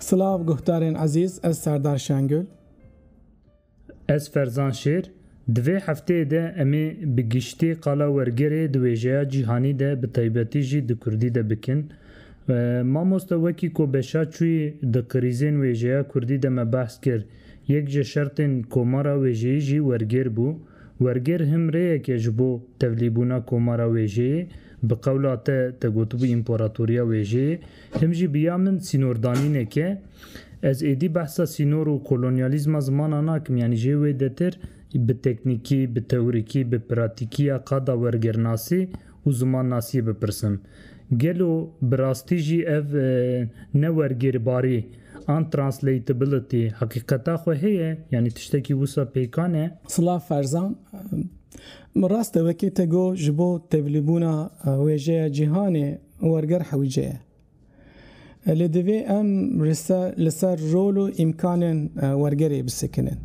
Silav guhdarên ezîz ez Serdar Şengul. Ez Ferzan Şêr. Di vê hefteyê de em ê bi giştî qala wergerê di wêjeya cîhanî de bi taybetî jî di kurdî de bikin. Mamoste wekî ku beşa çûyî di krîzên wêjeya kurdî de me behs kir, yek ji şertên komara wêjeyî jî wergêr bû. Wergêr him rêyekê ji bo tevlîbûna komara wêjeyê, bi qewla te te gotibû împaratoriya wêjeyê, him jî bi ya min sînordanînek e. Ez êdî behsa sînor û kolonyalîzma zimana nakim, yanî jê wê detir bi teknîkî, bi teorîkî, bi pratîkî ya qada wergêrnasî û zimannasiyê bipirsim. Gelo bi rastî jî ev newergêrbarî an translatability heqîqeta xwe heye? Yanî tiştekî wisa pêkan e? Silav Ferzan, Min rast e wekî te got ji bo tevlîbûna wêjeya cîhanê werger hewce ye. Lê divê em li ser rol û îmkanên wergerê bisekinin.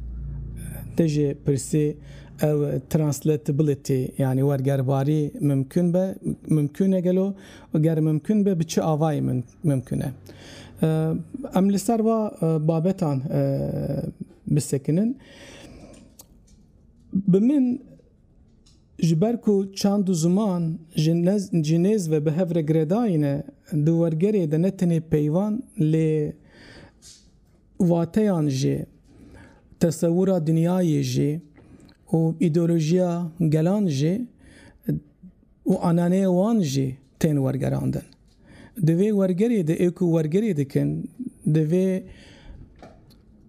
Te jê pirsî ew translatability yanî wergerbarî mimkun be, mimkun e gelo û ger mimkun be bi çi avayî mimkun e. Em li ser va babetan bisekinin. Bi min. Ji ber ku çand û ziman ji nez ji nêz ve bi hev re giredayîne, di wergerê de ne tenê peyvan lê wateyan jî, tesewûra dinyayê jî û îdeolojiya gelan jî û ananeyê wan jî tên wergerandin. Di vê wergerê de ê ku wergerê dikin divê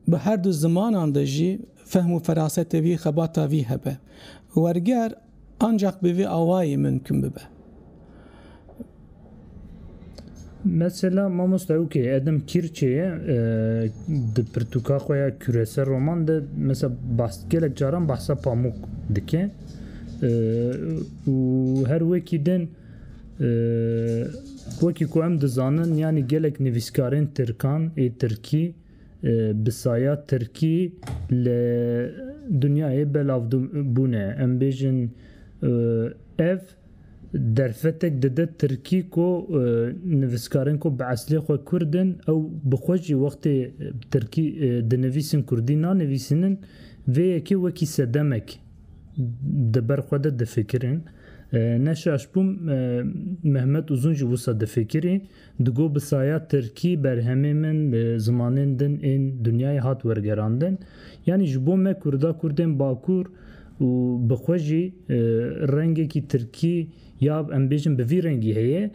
bi her du zimanan de jî fehm û ferasete vî xebata vî hebe. Werger ancak bi vê awayî mimkun bibe. Mesela mamosta ew kê Edem Kîrçê ye di pirtûka xwe ya Küresel roman de mesela bahs gelek caran bahsa Pamuk dike û her wekî din Wekî ku em dizanin yanî gelek nivîskarên tirkan ê tirkî bi saya tirkî li dinyayê belav bûne. Em bêjin ev derfetek dide tirkî ku nivîskarên ku bi eslê xwe kurd in ew bi xwe jî wextê tirkî dinivîsin kurdî nanivîsînin vê yekê wekî sedemek. di ber xwe de difikirin. Ne şaş bûm Mehmet Uzun jî wisa difikirî. Digo bi saya Tirkî berhemê min li zimanên din ên dinyayê hat wergerandin. Yanî ji bo me Kurda Kurdên Bakur û bi xwe jî rengekî Tirkî ya em bêjin bi vî rengî heye.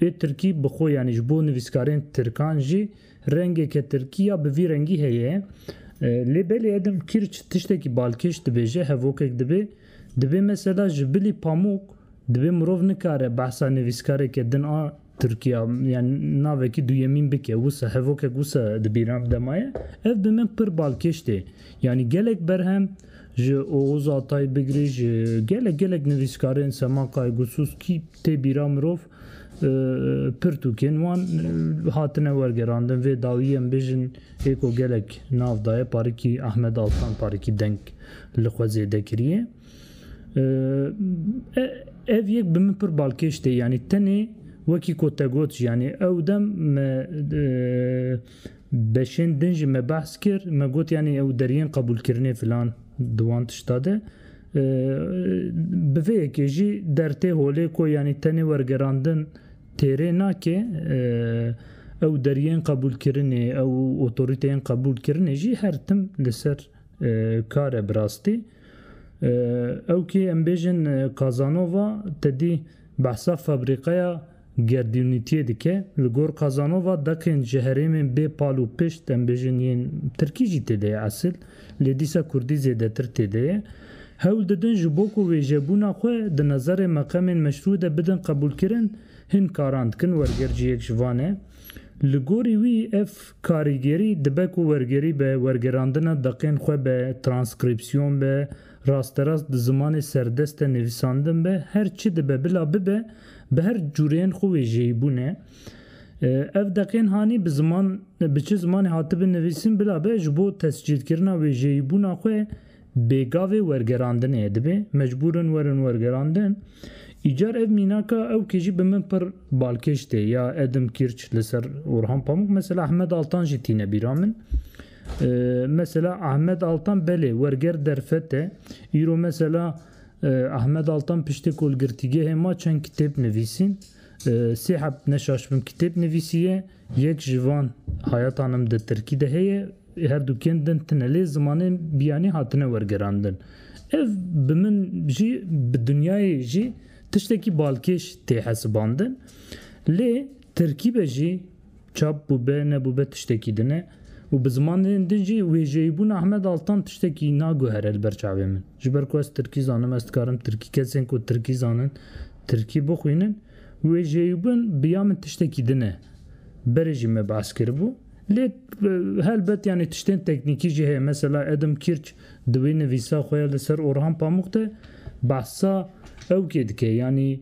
Ê Tirkî bi xwe yanî ji bo nivîskarên Tirkan jî Rengeke tirkiya bi vî rengî heye. Lê belê edim kirç tiştekî balkêş dibêje hevokek dibe. Dibê mesela ji bilî pamûk dibê mirov nikare behsa nivîskareke din a tirkiya yan navekî duyemîn bike wisa hevokek wisa dibîra demaye ev bi min pir balkêş tê. Yanî gelek berhem ji Oxuz Atay bigirî ji gelek gelek nivîskarên Semaqay, Gusus kî tê bîra mirov Pirtûkên wan hatine wergerandin vê dawiyê em bêjin ê ku gelek nav daye parikî Ahmed Altan parikî deng li xwe zêde kiriye. Ev yek bi min pir balkêş tê yanî tenê wekî ku te got jî yanî ew dem me Beşên din jî me behs kir, me got yanî ew deriyên qebûlkirinê filan di wan tişta de. Bi vê yekê jî der tê holê ku yanî tenê wergerandin têrê nake, ew deriyên qebûlkirinê, ew otorîteyên qebûlkirinê jî her tim li ser kar e bi rastî. Ew kê em bêjin Kazanova tedî behsa fabrîqeya. Gerdûnîtiyê dike, li gor Kazanova deqên ji herêmên bê pal û pişt em bêjin yên tirkî jî tê de ye esil, lê dîsa kurdî zêdetir tê de ye, hewl didin ji bo ku wêjebûna xwe di nezerê meqemên meşrû de bidin qebûlkirin, hin karan dikin, werger jî yek ji van e. Li gorî wî ev karîgerî dibe ku wergerî be wergerandina deqên xwe be, transkrîpsiyon be, rasterast di zimanê serdest de nivîsandin be, her çi dibe bila bibe, bi her cureyên xwe wêjeyîbûn e. Ev deqên hanî bi ziman bi çi zimanê hatibin nivîsin bila be ji bo tescîlkirina wêjeyîbûna xwe bêgavê wergerandinê ye dibê mecbûr in werin wergerandin. Îcar ev mînaka ew kê jî bi min pir balkêş tê ya Edim Kîrç li ser Orhan Pamuk, mesela Ehmed Altan jî tîne bîra min. Mesela Ahmed Altan belê werger derfet e. Îro mesela Ahmed Altan piştê kolgirtîgehê ma çend kitêb nivîsîn. Sê hebt neşaşbim kitêb nivîsîye. Yek ji van Hayata Nim di tirkî de heye. Her du kên din tine lê zimanên biyanî hatine wergerandin. Ev bi min jî bi dinyayê jî tiştekî balkêş tê hesibandin. Lê tirkî be jî Çap bûbe nebûbe tiştekî din e û bi zimanên din jî wêjeyîbûna Ahmed Altan tiştekî naguhere li ber çavê min. Ji ber ku ez tirkî zanim, ez dikarim tirkî kesên ku tirkî zanin tirkî bixwînin. Wêjeyîbûn bi ya min tiştekî din e. Berê jî me behs kiribû. Lê helbet yanî tiştên teknîkî jî heye. Mesela Adam Kirch di wê nivîsa xwe ya li ser Orhan Pamuk de behsa ewkê dike yanî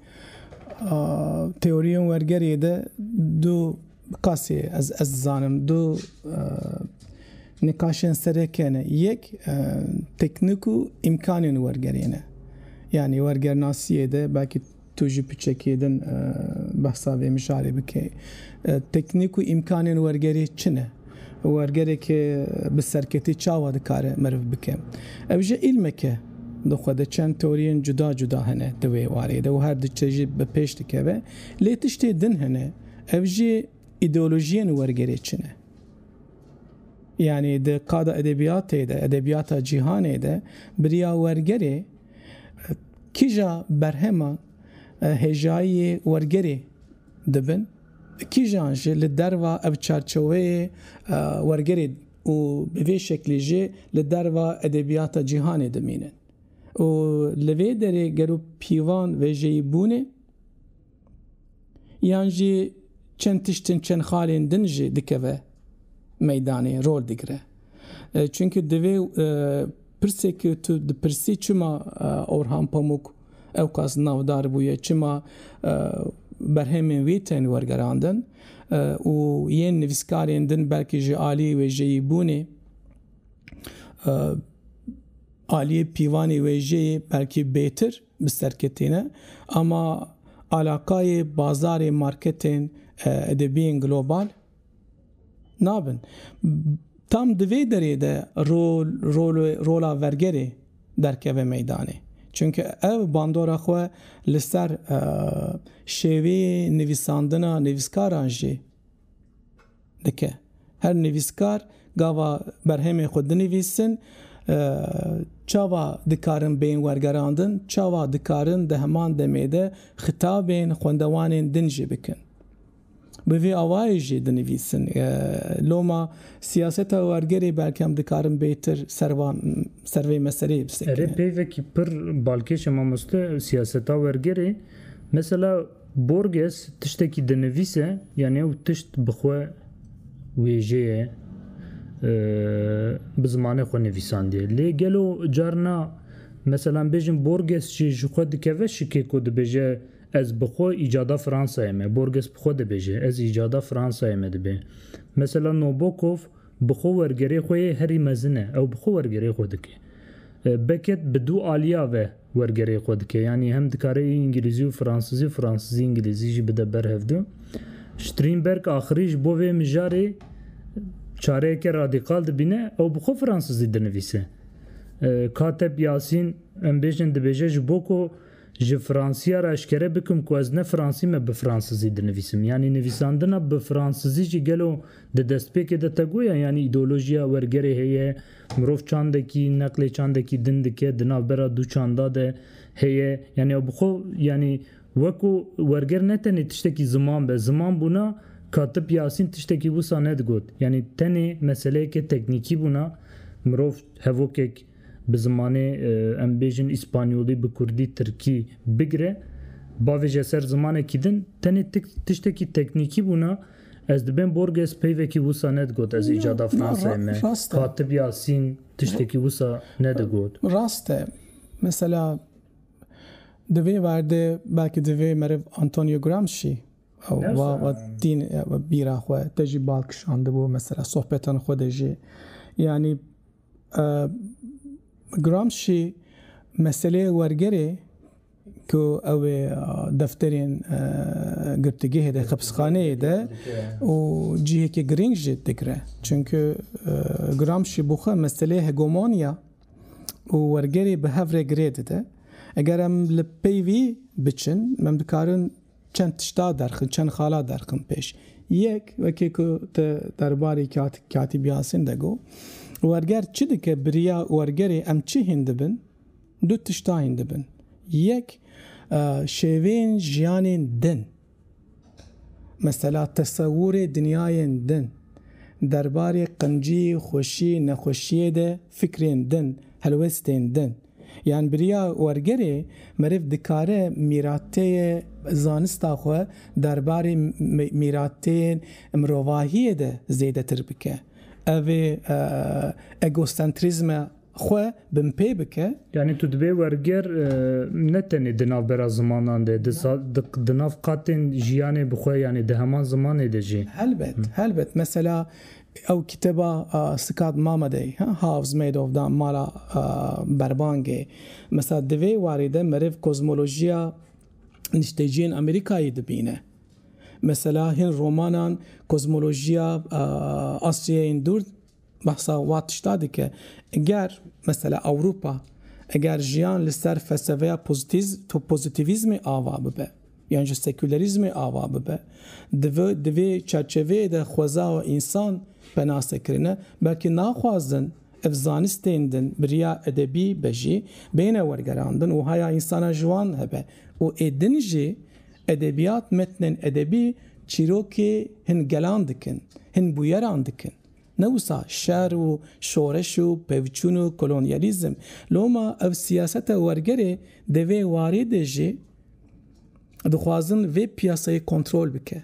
Teoriyên wergeriyê de du qasî ez ez dizanim du nikaşên sereke ne. Yek teknik û îmkanên wergeriyê ne. Yanî wergernasiyê de belkî tu ji piçekê din behsa vê mijarê bikî. Teknik û îmkanên wergeriyê çi ne? Wergerek bi serketî çawa dikare meriv bike? Ev jî îlmek e. Di xwe de çend teoriyên cuda cuda hene di wê warê de û her di çe jî bi pêş dikeve. Lê tiştê din hene, ev jî îdeolojiyên wergerê çi ne? Yanî di qada edebiyatê de, edebiyata cîhanê de biriya wergerê kîja berheman hêjayiyê wergerê dibin? Kîjan jî li derva ev çarçeweyê wergerê û bi vê şeklî jî li derva edebiyata cîhanê dimînin û li vê derê gero pîvan vejeyî bûnê yan jî çend tiştên çend xalên din jî dikeve meydanê rol digire. Çunke divê pirsê ke tu dipirsî çima Orhan Pamuk Ewqas navdar bûye çima berhemên wî tên wergerandin û yên nivîskarên din belkî ji aliyê wêjeyîbûnê, aliyê pîvanê wêjeyê belkî bêtir bi ser ketîne. Ama alaqayê bazarê marketên edebiyên global. nabin. Tam di vê derê de rol rol rola vergerê derkeve meydanê. Çunke ev bandora xwe li ser şêweyê nivîsandina nivîskaran jî dike. Her nivîskar gava berhemên xwe dinivîsin çawa dikarin bên wergerandin, çawa dikarin di heman demê de xitabên xwendewanên din jî bikin. Bi vî awayê jî dinivîsin. Loma siyaseta wergerê belkem dikarin bêtir ser vê meseleyê bisekinê. Erê peyvekî pir balkêş e mamoste siyaseta wergerê. Mesela Borges tiştekî dinivîse yanî ew tişt bi xwe wêjê ye bi zimanê xwe nivîsandiye. Lê gelo carina meselan bêjin Borges jî ji xwe dikeve şikê ku dibêje Ez bi xwe îcada Fransayê me, Borges bi xwe dibêje, ez îcada Fransayê me dibê. Mesela Nobokov bi xwe wergerê xwe yê herî mezin e, ew bi xwe wergerê xwe dike. Beckett bi du aliya ve wergerê xwe dike, yanî hem dikare îngilîzî û fransizî, fransizî îngilîzî jî bide ber hev du. Strînberg axirî ji bo vê mijarê çareyeke radîkal dibîne, ew bi xwe fransizî dinivîse. Kateb Yasîn, em bêjin dibêje ji bo ku Ji Fransîya re eşkere bikim ku ez ne Fransî me bi Fransizî dinivîsim. Yanî nivîsandina bi Fransizî jî gelo di destpêkê de tego ye? Yanî îdeolojiya wergerê heye, mirov çandekî neqlê çandekî din dike di navbera du çanda de heye. Yanî ew bi xwe yanî weko werger ne tenê tiştekî ziman be. Ziman bûna Katip Yasîn tiştekî wisa nedigot. Yanî tenê meseleyeke teknîkî bûna mirov hevokek. Bi zimanê em bêjin îspanyolî bi kurdî tirkî bigire bavê je ser zimanekî din tenê tik tiştekî teknîkî bûna ez dibêm Borges peyvekî wisa nedigot ez îcada Fransayê me Katib Yasîn tiştekî wisa nedigot. Rast e mesela di vê werde belkî divê meriv Antonio Gramsci wa wa tîn bîra xwe te jî bal kişandibû mesela sohbetan xwe de jî yanî Gramsci meseleyê wergerê ku ew ê defterên girtîgehê de, xepisxaneyê de û cihekî girîng jî digre. Çimkû Gramsci bo xwe meseleyê hegomoniya û wergerê bi hev re girê dide. Eger em li pey vî biçin em dikarin, Çend tişta derxin, çend xala derxin pêş. Yek, wekî ku te derbarê Katîb Yasîn de got, werger çi dike biriya wergerê em çi hîn dibin, du tişta hîn dibin. Yek, şêweyên jiyanên din, mesela tesewurê dinyayên din, derbarê qincî, xweşî, nexweşiyê de fikrên din, helwestên din. Yan biriya wergerê meriv dikare mîrateyê zanista xwe derbarê mîrateyên mirovahiyê de zêdetir bike, evê egosentrîzme xwe binpê bike. Yanî tu dibê werger ne tenê di navbera zimanan de, di nav qatên jiyanê bi xwe yanî di heman zimanê de jî. Helbet, helbet. Mesela Ew kitêba Scott Mamedê House Made Of da mala berbangê. Mesela di vê warî de meriv kozmolojiya nişteciyên Amerîkayê dibîne. Mesela hin romanan kozmolojiya Asyayên Dûr behsa wa tişta dike. Ger mesela Ewropa eger jiyan li ser felseveya pozîtîvîzmê ava bibe. yan jî sekûlerîzmê ava bibe, divê di vê çerçeveyê de xweza û însan penase kirine, belkî naxwazin ev zanistên din bi riya edebî be jî bêne wergerandin û haya însana ji wan hebe û ê din jî edebîyat metnên edebî çîrokê hin gelan dikin, hin bûyeran dikin. Ne wisa şer û şoreş û pevçûn û kolonyalîzm, loma ev siyaseta wergerê di vê warê de jî dixwazin vê piyasayê kontrol bike.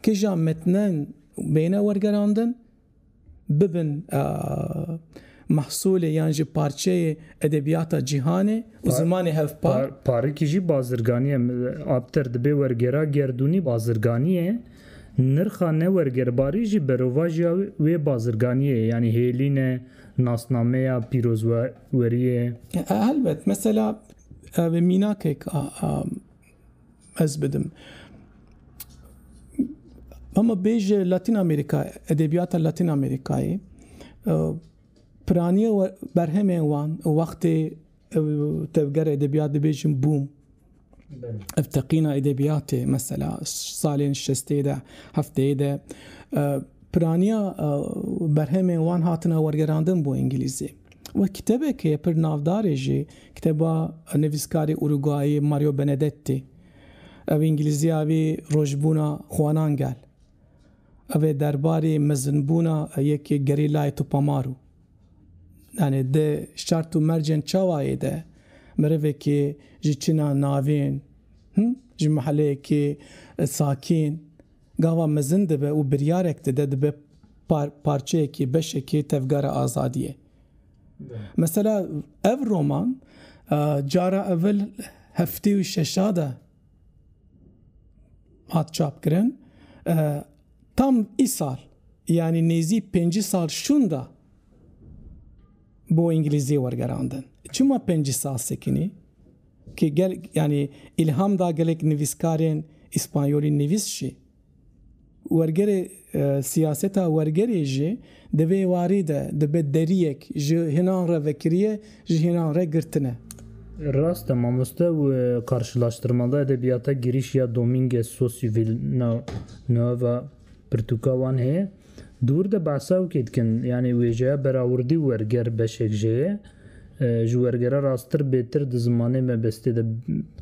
Kija metnen bêne wergerandin, bibin mehsulê yan jî parçeyê edebiyata cîhanê û zimanê hevpar. Parikî jî bazirganiyê, aptir dibê wergera gerdûnî bazirganiyê. Nirxa newergerbarî jî berovajiya wê bazirganiyê ye yanî hêlîn e, nasnameya pîrozweriyê. Helbet mesela vê mînakek a ez bidim. Hema bêj Latin Amerika edebiyata Latin Amerikayê piraniya berhemên wan wextê Ew tevgera edebiyat dibêjin bûm. Ev teqîna edebiyatê mesela salên şestê de hefteyê de piraniya berhemên wan hatine wergerandin bo îngilîzî. Wek kitebekê pir navdarê jî kiteba nivîskarê Urugwayî Mario Benedetti. Ev îngilîziya wî rojbûna xwanan gel. Ev ê derbarê mezinbûna yekê gerîlayê Tupamaru. Yanî di şert û mercên çawayê de mirivekî ji çîna navîn, ji miheleyekî sakîn gava mezin dibe û biryarek dide dibe parçeyekî, beşekî tevgera azadiyê. Mesela ev roman cara evil heftê û şeşa de hat çapkirin tam îsal yanî nêzî pêncî sal şûnda bo îngilîzî wergerandin. Çima pêncî sal sekinî ki gel yanî îlham da gelek nivîskarên îspanyolî nivîs jî. Wergerê siyaseta wergerê jî di vê warî de dibe deriyek ji hinan re vekiriye, ji hinan re girtine. Rast e mamoste û karşilaştirmada edebiyata girîş ya Domînguez Sosîvîl na Nueva Pirtûka wan heye. Di wir de behsa wekî dikin, yanî wêjeya berawurdî û werger beşek jê ye. Ji wergere rasttir bêtir di zimanê mebestê de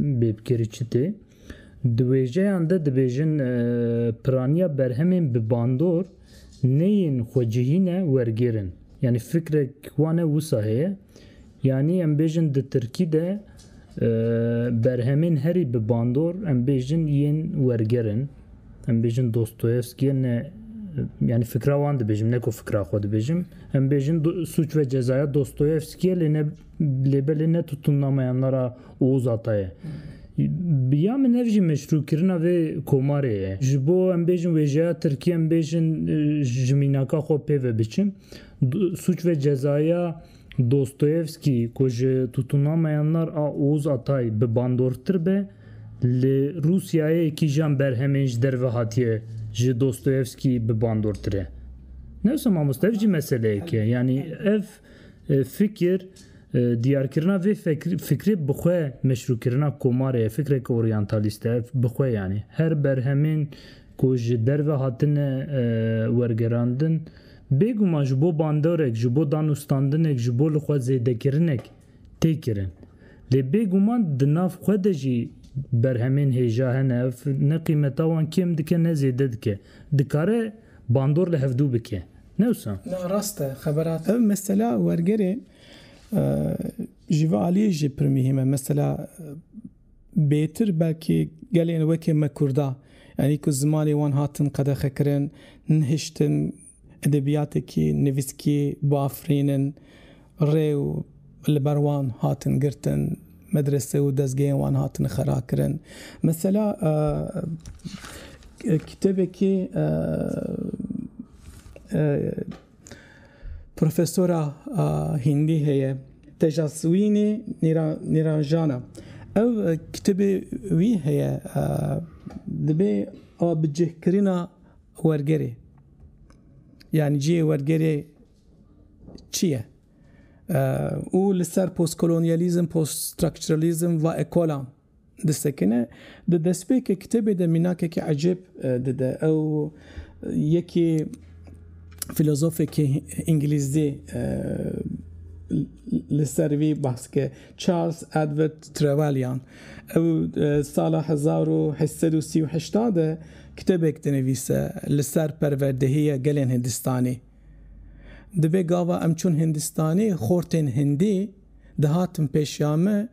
bêbkêrî çi tê? Di wêjeyan de dibêjin piraniya berhemên bi bandor neyên xwecihî ne wergêr in. Yanî fikrek wane wisa heye. Yanî em bêjin di tirkî de berhemên herî bi bandor em bêjin yên werger in. Em bêjin Dostoyevskî ne yanî fikra wan dibêjim ne ku fikra xwe dibêjim. Em bêjin sûc ve cezaya Dostoyevskî lê ne Lê belê ne tutûnnameya me ra Ozata ye. Bi ya min ev jî meşrûkirina vê komarê ye. Ji bo em bêjin wêjeya Tirkiyê em bêjin ji mînaka xwe pê ve biçin. Sûc ve cezaya Dostoyevskî ku ji tutûnnameya ner a Oz Atay bi bandortir be li Rûsyayê kîjan berhemên ji derve hatiye ji Dostoyevskî bi bandortir e. Newsa mamoste ev jî meseleyek e. Yanî ev. Fikir, Diyarkirina vê fikrê bi xwe meşrûkirina komarê ye, fikreke oryantalîst e, bi xwe yanî. Her berhemên ku ji derve hatine wergerandin, bêguman ji bo bandorek, ji bo danûstandinek, ji bo li xwe zêdekirinek tê kirin. Lê bêguman di nav xwe de jî berhemên hêja hene, ev ne qîmeta wan kêm dike ne zêde dike. Dikare bandor li hevdû bike. Ne wisa? Na rast e xebera. Ev mesela wergerê ji vê aliyê jî pir muhîm e. Mesela bêtir belkî gelên wekî me kurda yanî ku zimanê wan hatin qedexekirin, nihiştin edebiyatekî nivîskî biafirînin Rê û li ber wan hatin girtin, medrese û dezgehên wan hatin xerakirin. Mesela kitêbekî profesora hîndî heye Tejaswînî Nîranjana. Ew kitêbê wî heye dibê a bi cihkirina wergerê yanî cihê wergerê Çi ye? Û li ser postkolonyalîzm, poststructuralism va ekolan disekine. Di destpêkê kitêbê de mînakekî ecêb dide. Ew yekî filozofekî îngilîzdî li ser vî behs dike Charles Edward Trevelyan. Ew sala hezar û heşt sed û sî û heşt de kitêbek dinivîse li ser perwerdehîya gelên Hindistanî. Divê gava em çûn Hindistanê xortên Hindî dihatin pêşiya me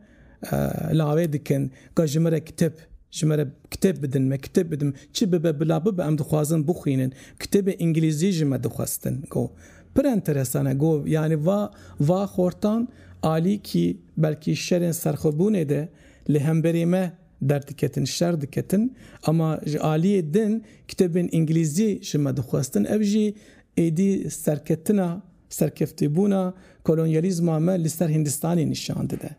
lawê dikin ka ji min re kitêb ji min re kitêb bidin me kitêb bidin çi bibe bila bibe em dixwazin bixwînin kitêbê îngilîzî ji me dixwestin go pir enteresan e go yanî va va xortan alîkî belkî şerên serxwebûnê de li hemberî me Derdiketin, şer diketin ama ji aliyê din kitêbên îngilîzî ji me dixwestin ev jî êdî serketina, serkeftîbûna kolonyalîzma me li ser Hîndistanê nîşan dide.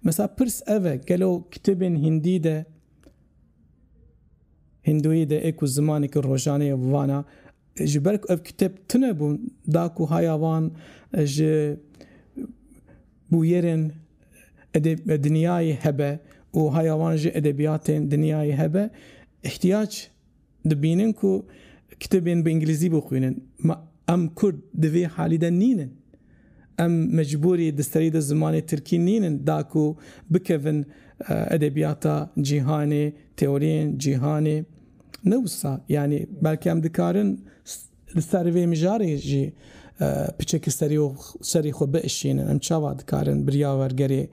Mesela pirs ev e gelo kitêbên hîndî de, hîndoyî de ê ku zimaneke rojane ye bi vana ji ber ku ev kitêb tune bûn da ku haya wan ji Bûyerên dinyayê hebe û haya wan jî edebiyatên dinyayê hebe. Îhtiyac dibînin ku kitêbên bi îngilîzî bixwînin. Ma em kurd di vê halî de nînin. Em mecbûrî di serî de zimanê tirkî nînin da ku bikevin edebiyata cîhanê, teoriyên cîhanê. Ne wisa yanî belke em dikarin Li ser vê mijarê jî piçek serî xwe biişînin, em çawa dikarin biryavergerê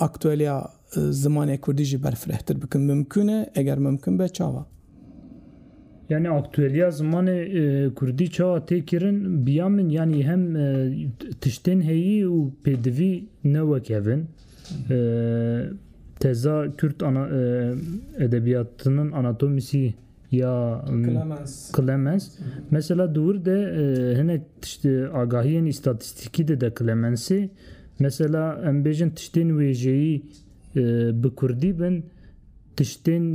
aktueliya zimanê kurdî jî berfirehtir bikin? Mimkûn e? Eger mimkûn be çawa? Yanî aktueliya zimanê kurdî çawa tê kirin? Bi ya min yanî hem tiştên heyî û pêdivî ne wek hev in. Teza Kürt edebiyatının anatomisi ya Clemens. Mesela di wir de hinek tişt agahiyên îstatîstîkî dide Clemensê. Mesela em bêjin tiştên wêjeyî bi kurdî bin, tiştên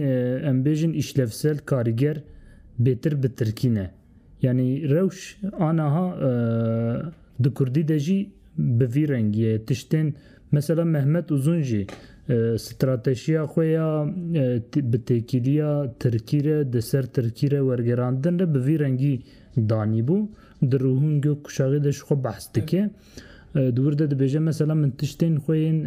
em bêjin îşlevsel, karîger bêtir bi tirkî ne. Yanî rewş anaha di kurdî de jî bi vî rengî ye. Tiştên Mesela Mehmet Uzun jî stratejiya xwe ya bi têkiliya Tirkî re di ser Tirkî re wergerandin re bi vî rengî danîbû. Di Ruhûn Gök Kuşaxê de ji xwe behs dike. Di wir de dibêje mesela min tiştên xwe yên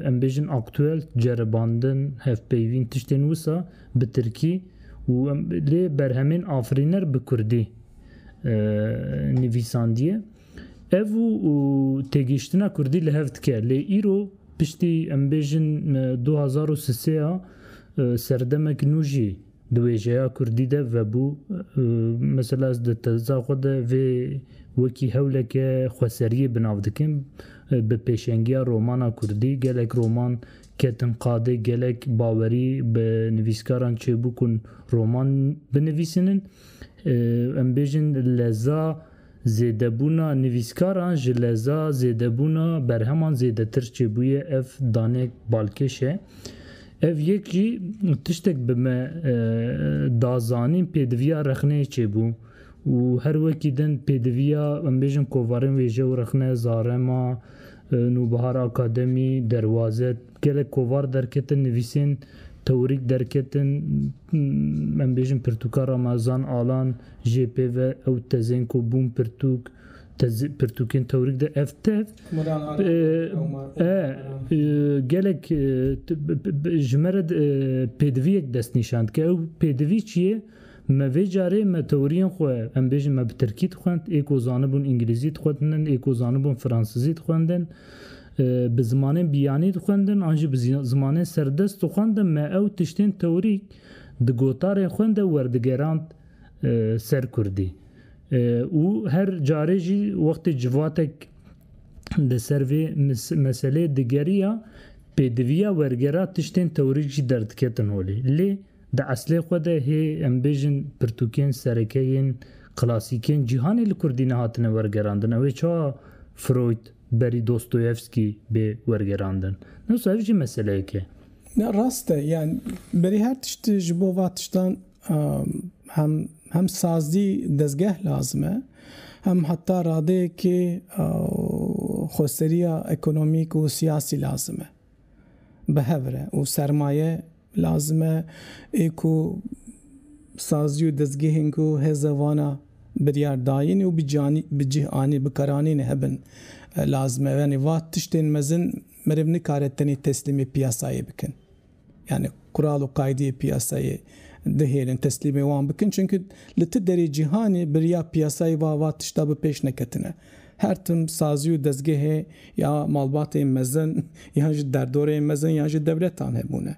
em bêjin aktuel, ceribandin, hevpeyvîn tiştên wisa bi Tirkî û lê berhemên afirîner bi Kurdî nivîsandiye. Ev û têgihiştina kurdî li hev dike lê îro piştî em bêjin du hezar û sisê ya serdemek nû jî di wêjeya kurdî de vebû. Mesela ez di teza xwe de vê wekî hewleke xweseriyê bi nav dikim. Bi pêşengiya romana kurdî gelek roman ketin qadê gelek bawerî bi nivîskaran çêbû ku roman binivîsînin. Em bêjin leza Zêdebûna nivîskaran ji leza zêdebûna berheman zêdetir çêbûye ev danek balkêş e. Ev yek jî tiştek bi me da zanîn pêdiviya rexneyê çêbû û her wekî din pêdiviya em bêjin kovarên wêje û rexne, zarema, nûbihar, akademî, derwazet, Gelek kovar derketin, nivîsên tewrîk derketin, em bêjin pirtûka Ramazan Alan jê pê ve ew tezên ku bûn pirtûk, pirtûkên tewrîk de ev tev e gelek ji me re pêdiviyek destnîşan dike. Ew pêdivî çi ye? Me vê carê me tewriyên xwe em bêjin me bi tirkî dixwend, ê ku zanibûn îngilîzî dixwendin, ê ku zanibûn fransizî dixwendin, bi zimanên biyanî dixwendin an jî bi zimanên serdest dixwendin me ew tiştên tewrîk di gotarên xwe de werdigerand ser kurdî û her carê jî wextê civatek li ser vê meseleyê digeriya pêdiviya wergera tiştên tewrîk jî derdiketin holê lê Di eslê xwe de hê em bêjin pirtûkên sereke yên klasîk ên cîhanê li kurdî nehatine wergerandin. Ew ê çawa Freud berî Dostoyevsky bê wergerandin? Ne wisa ev jî meseleyek e. Ne rast e. Yan berî her tişt ji bo va tiştan hem hem sazî dezgeh lazim e hem heta radeyekê xweseriya ekonomîk û siyasî lazim e. bi hev re û sermaye lazim e ê ku sazî û dezgehên ku hêza wana biryar dayîn û bi cih anî bikaranîn hebin lazim e. Yanî va tiştên mezin meriv nikare tenê teslîmê piyasayê bikin. Yanî kural û qaydeyê piyasayê dihêlin teslîmê wan bikin. Çimkî li ti derê cîhanê birya piyasayê va va tişta bi pêş neketine. Her tim sazî û dezgehê ya malbatên mezin yan ji derdorên mezin yan ji dewletan hebûne.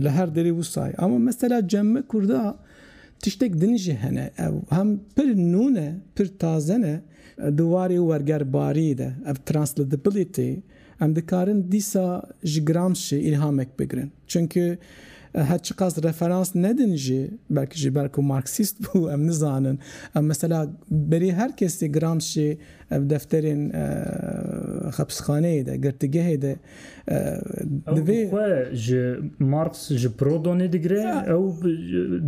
Li her derê wisa ye. Ama mesela cemme kurda tiştek din jî hene. Ew hem pir nû ne, pir taze ne. Di warê wergerbarî de ev translatability, Em dikarin dîsa ji Gramsci îlhamek bigirin. Çimkî her çiqas referans nedin jî, belkî jî ber ku Marksîst bû em nizanin. Em mesela berî her kesî Gramsci ev defterên xepsxaneyê de, girtîgehê de divê. Ew xwe ji Marks ji Prodonê digire, ew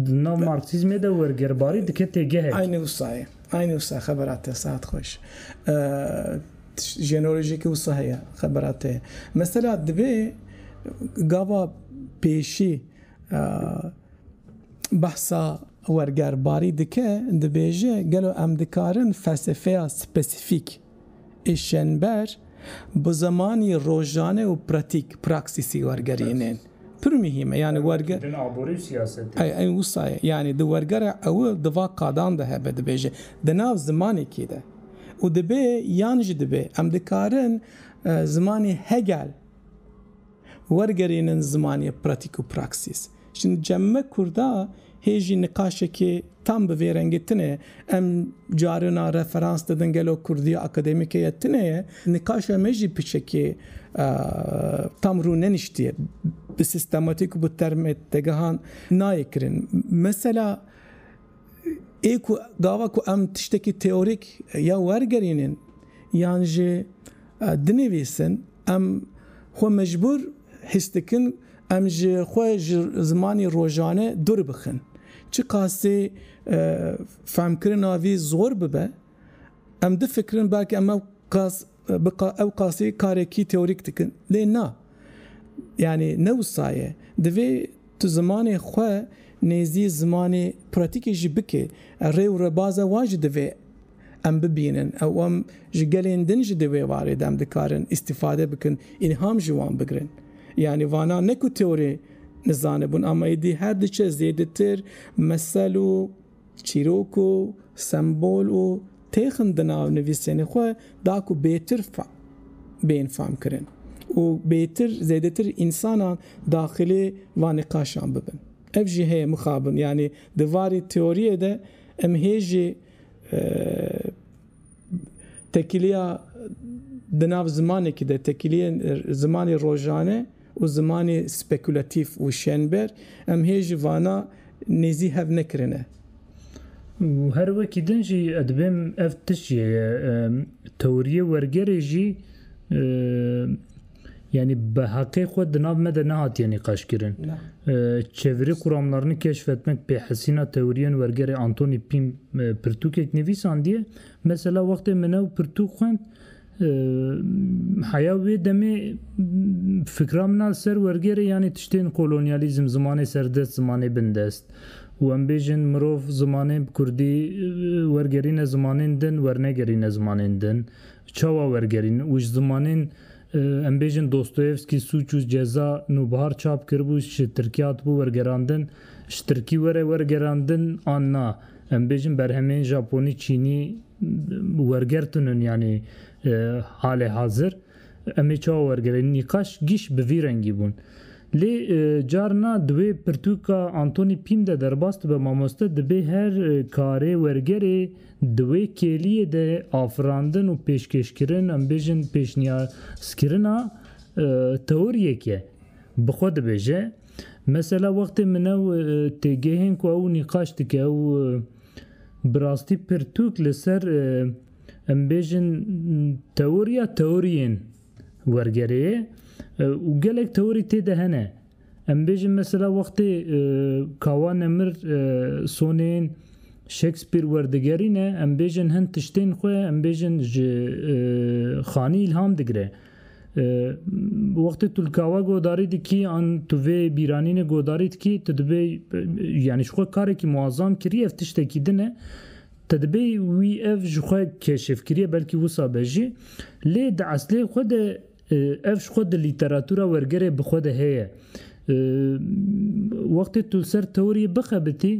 di nav Marksîzmê de wergerbarî dike têgehek. Aynî wisa ye. Aynî wisa xebera te saet xweş. Jeneolojîkî wisa heye xebera te. Mesela divê gava pêşî behsa wergerbarî dike, dibêje gelo em dikarin felsefeya spesîfîk ê şenber bi zimanî rojane û pratîk, praksîsî wergerînin. Pir muhîm e yanî werge. Din aborî û siyasetê. Ey ey wisa ye. Yanî di wergera ew di va qadan de hebe dibêje di nav zimanekî de û dibê yan jî dibê em dikarin zimanî Hegel wergerînin zimanî pratîk û praksîs. Şin cemme kurda Hê jî niqaşekê tam bi vê rengê tune ye. Em carina referans didin gelo kurdiya akademîke ye tune ye. Niqaşa me jî piçekê tam rû neniştiye. Bi sîstematîk û bi termê tegehan nayê kirin. Mesela ê ku gava ku em tiştekî teorîk ya wergerînin yan jî dinivîsin em xwe mecbûr Hîs dikin em ji xwe ji zimanê rojane dûr bixin. Çiqasê fehmkirina vî zor bibe, em difikirin belkî em ew qas bi ew qasî karekî teorîk dikin. Lê na. Yanî ne wisa ye. Divê tu zimanê xwe nêzî zimanê pratîkê jî bikê. Rê û rebaza wan jî divê. Em bibînin ew em ji gelên din jî di vê warê de em dikarin îstîfade bikin, îlham ji wan bigirin. Yanî vana ne ku teorî nizanibûn ama êdî her diçe zêdetir mesel û çîrok û sembol û têxin di nav nivîsên xwe da ku bêtir bên famkirin û bêtir zêdetir însanan daxilê van niqaşan bibin. Ev jî heye mixabin yanî di varê teoriyê de em hê jî Tekîliya di nav zimanekî de tekîliyê zimanê rojane û zimanê spekulatîf û şênber em hê ji vana nêzî hev nekirine. Û her wekî din jî ez dibêm ev tişt jê ye, teoriyê wergerê jî, Yanî bi heqê xwe di nav me de nehatiye nîqaşkirin. Çevirê Kuramlarını keşfetmek pê hesîna tewriyên wergerê Antoni Pîm pirtûkek nivîsandiye. Mesela wextê min ew pirtûk xwend heya wê demê fikra min a li ser wergerê yanî tiştên kolonyalîzm, zimanê serdest, zimanê bindest û em bêjin mirov zimanê kurdî wergerîne zimanên din wernegerîne zimanên din Çawa wergerîn û ji zimanên em bêjin Dostoyevskî, Sûc û Ceza, Nûbihar çap kiribû ji Tirkiya hatibû wergerandin, ji Tirkî were wergerandin an na, em bêjin berhemên Japonî, Çînî werger tunin yanî halê hazir em ê çawa wergerîn nîqaş gîş bi vî rengî bûn. Lê carina di wê pirtûka Anthony Pym de derbas dibe mamoste dibê her karê wergerê, Di wê kêliyê de afirandin û pêşkêşkirin, em bêjin pêşniyazkirina teoriyek e. Bi xwe dibêje, Mesela wextê min ew têgehên ku ew nîqaş dike ew bi rastî pirtûk li ser em bêjin teoriya teoriyên wergerê ye û gelek teorî tê de hene. Em bêjin mesela wextê Kawa Nemir sonên Shakespeare werdigerîne em bêjin hin tiştên xwe em bêjin ji xanî îlham digire. Wextê tu li kawa godarî dikî an tu vê bîranînê godarî dikî tu dibê yanî ji xwe karekî muazzam kirî ev tiştekî din e te dibê wî ev ji xwe keşifkirî belkî wisa be jî lê di eslê xwe de Ev ji xwe di lîteratûra wergerê bi xwe de heye. Wextê tu li ser teoriyê bixebitî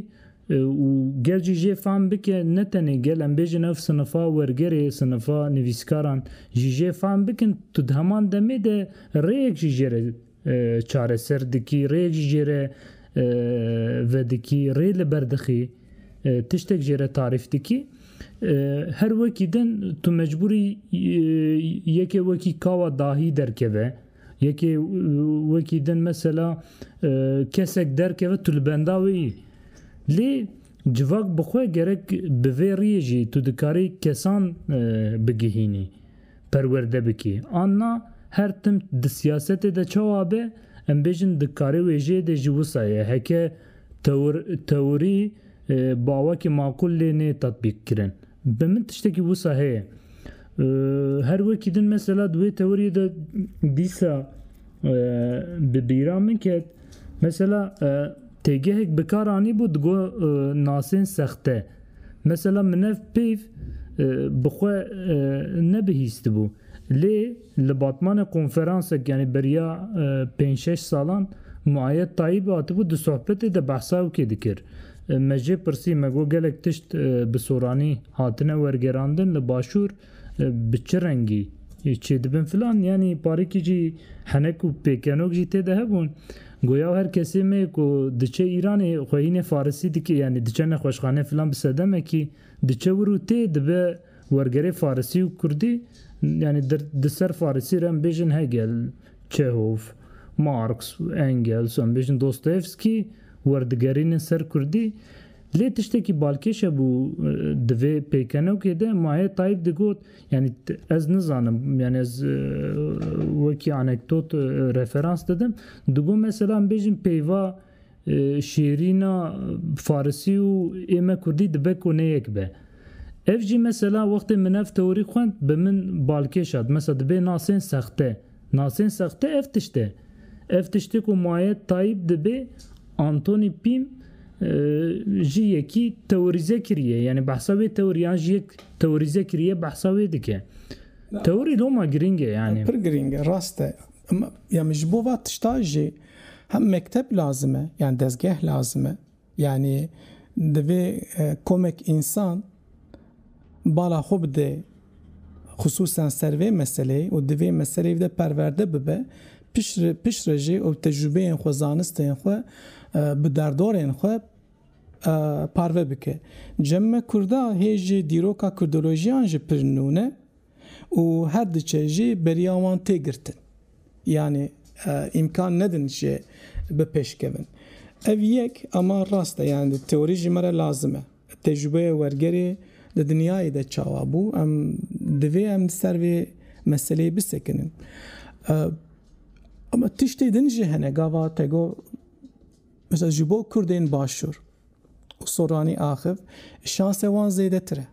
û gel jî jê fam bike, ne tenê gel em bêjin ev sinifa wergerê, sinifa nivîskaran jî jê fam bikin, tu di heman demê de rêyek jî jê re Çareser dikî rê jî jê re vedikî, rê li ber dixî, tiştek jê re tarîf dikî. Her wekî din tu mecbûrî yekê wekî kawa dahî derkeve, yekê wekî din mesela kesek derkeve tu li benda wê yî. Lê civak bi xwe gerek bi vê riyê jî tu dikarî kesan bigihînî. perwerde bikî an na, her tim di siyasetê de çawa be, em bêjin di karê wêjeyê de jî wisa ye, heke tewir teorî bawekî maqûl lê nê tatbîkkirin. Bi min tiştekî wisa heye. Her wekî din mesela di wê teoriyê de dîsa bi bîra min ket, mesela têgehek bi kar anîbû di go nasên sexte, Mesela min ev peyv bi xwe nebihîstibû. Lê li batmanê konferansek yanî beriya pênc şeş salan Muayed Tayîb hatibû di sohbetê de behsa ewkê dikir. Me jê pirsî me got gelek tişt bi soranî hatine wergerandin li başûr, Bi çi rengî çêdibin filan yanî parêkî jî henek û pêkenok jî tê de hebûn. Goya her kesê me ku diçe Îranê xwe hînê farisî dike yanî diçe nexweşxane filan bi sedemekî diçe wir û tê dibe wergerê farisî û kurdî yanî di ser farisî re em bêjin Hegel, Çehov, Marx, Engels em bêjin Dostoyevskî werdigerînin ser kurdî Lê tiştekî balkêş hebû di vê pêkenokê de, Maye Tayîb digot, Yanî ez nizanim, yanî ez wekî anekdot referans didim, digot mesela em bêjin peyva şêrîna farisî û ême kurdî dibe ku ne yek be. Ev jî mesela wextê min ev teorî xwend bi min balkêş hat, mesela dibê nasên sexte. Nasên sexte ev tişt e. Ev tiştê ku maye Tayyîp dibê Anthony Pim jî yekî teorîze kiriye. Yanî behsa wê teoriyan jî yek teorîze kiriye behsa wê dike. Teorî loma girîng e yanî. Pir girîng e rast e. Ya min ji bo va tişta jî hem mekteb lazim e, yan dezgeh lazim e. Yanî divê komek însan bala xwe bide xisûsan ser vê meseleyê û di vê meseleyê de perwerde bibe, piştre jî ew tecrûbeyên xwe, zanistên xwe bi derdorên xwe parve bike. Cem me kurda hê jî dîroka kurdolojiyan jî pir nû ne. û her diçe jî beriya wan tê girtin. Yanî îmkan nedin jê bi pêş kevin. Ev yek ama rast e yanî di teorî jî me re lazim e. Tecrûbeya wergerê di dinyayê de çawa bû em divê em li ser vê meseleyê bisekinin. Ama tiştê din jî hene gava te got mesela ji bo kurdên başûr û soranî axif şanse wan zêdetir e.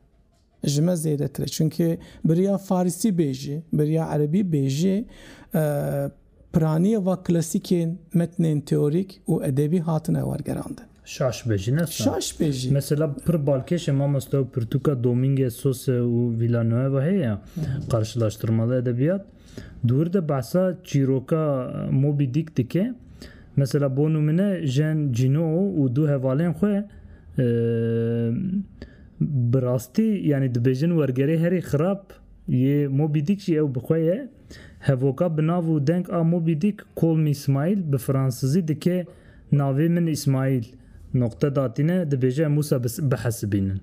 Ji me zêdetir e. Çimkî biriya farisî bêjî, biriya erebî bêjî, piraniyê va klasîkên metnên teorîk û edebî hatine wergerandin. Şaş bêjî ne sar. Şaş bêjî. Mesela pir balkêşê mamoste û pirtûka Domîngez Sose û Villanueva heye ya, Qarşılaştırmalı edebiyat, Di wir de behsa çîroka Moby Dick dike. Mesela bo nimune Jean Gino û du hevalên xwe bi rastî yanî dibêjin wergerê herî xirab yê Moby Dick jî ew bi xwe ye. Hevoka bi nav û deng a Moby Dick Call me Smile bi fransizî dike Navê min Îsmaîl noqte datîne dibêje em wisa bihesibînin.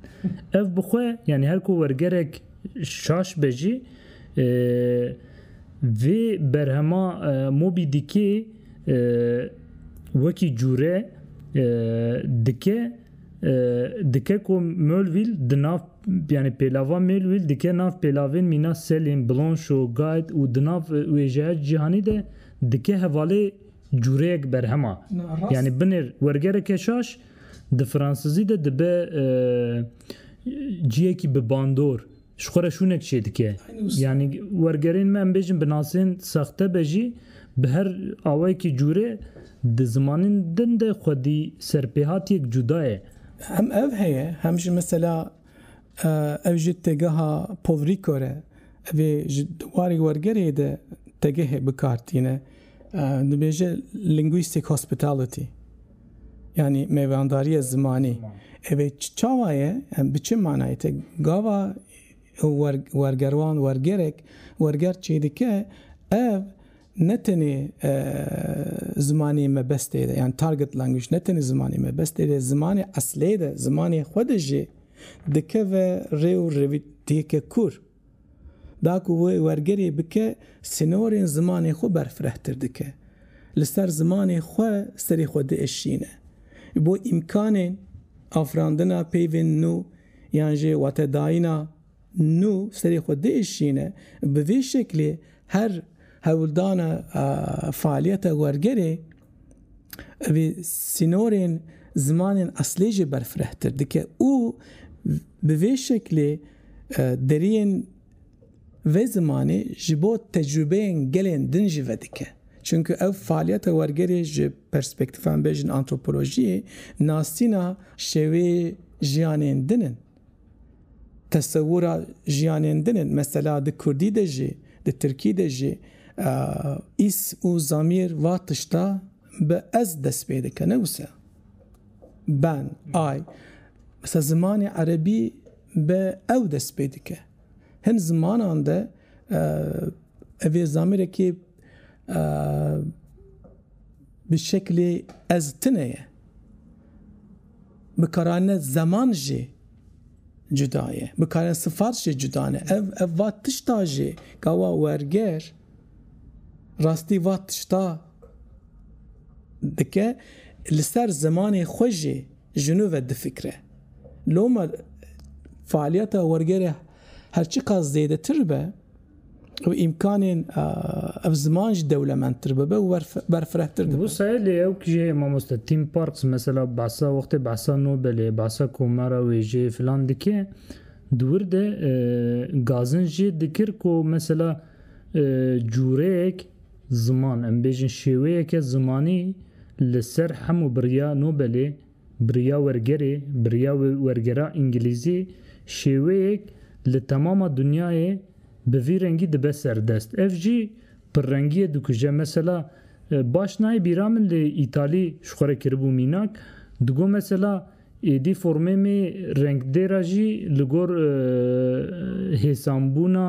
Ev bi xwe yanî her ku wergerek. Şaş be jî vê berhema Moby Dickê wekî cûre dike dike ku Melville di nav yani pêlava Melville dike nav pêlavên mîna Selin, Blanchot, Guide û di nav wêjeya cîhanî de dike hevalê cûreyek berhema. Yani binêr wergereke şaş Di fransizî de dibe ciyekî bi bandor, ji xwe re şûnek çêdike. Yanî wergerên me em bêjin bi nasên sexte be jî bi her awayekî cûrê di zimanên din de xwedî serpêhatiyek cuda ye. Hem ev heye hem jî mesela ev ji têgeha Povrîko re vê ji warê wergerê de tegehê bi kar tîne, dibêje linguistic hospitality. Yanî mêvandariya zimanî evê çawa ye? Em bi çi manayê te gava wergerwan wergerek werger çêdike ev ne tenê zimanê mebestê de yan target language ne tenê zimanê mebestê de zimanê eslê de zimanê xwe de jî dikeve rê û revîtiyeke kûr. Da ku wê wergerê bike, sînorên zimanê xwe berfirehtir dike. Li ser zimanê xwe serê xwe diişîne. Ji bo îmkanên afirandina peyvên nû yan jî watedayîna nû serê xwe diişîne. Bi vê şeklê her hewldana faaliyeta wergerê, Ev ê sînorên zimanên eslê jî berfirehtir dike û bi vê şeklê deriyên vê zimanê ji bo tecrûbeyên gelên din jî vedike. Çimkû ev faaliyeta wergerê ji perspektîfa me bêjin antropolojiyê nasîna şêwê jiyanên din in. Tesewura jiyanên din in, mesela di kurdî de jî, di tirkî de jî îs û zamîr va tişta bi ez dest pê dike ne wisa. Ben, ay. Mesela zimanê erebî bi ew dest pê dike. Hin zimanan de evê zamîrekê Bi şeklê ez tune ye. Bikarane zeman jî cuda ye. Bikarane sifat jî cuda ne. Ev ev va tişta jî gawa werger rastî va tişta dike li ser zimanê xwe jî ji nû ve difikre. Loma faaliyeta wergerê her çiqas zêdetir be, û îmkanên ev ziman jî dewlemendtir bibe û berfirehtir dibe. Bo seyê lê ew kî jî heye mamoste Tim Parks mesela behsa wextê behsa Nobelê, behsa komera wêjeyê filan dike di wir de gazin jê dikir ku mesela cûreyek ziman em bêjin şêweyeke zimanî li ser hemû biriya Nobelê Bi riya wergerê, bi riya wergera îngilîzî şêweyek li temama dinyayê bi vî rengî dibe ser dest. Ev jî pirrengiyê dikuje. Mesela baş nayê bîra min lê îtalî ji xwe re kiribû mînak, digot mesela êdî formê me rengdêra jî li gor hêsanbûna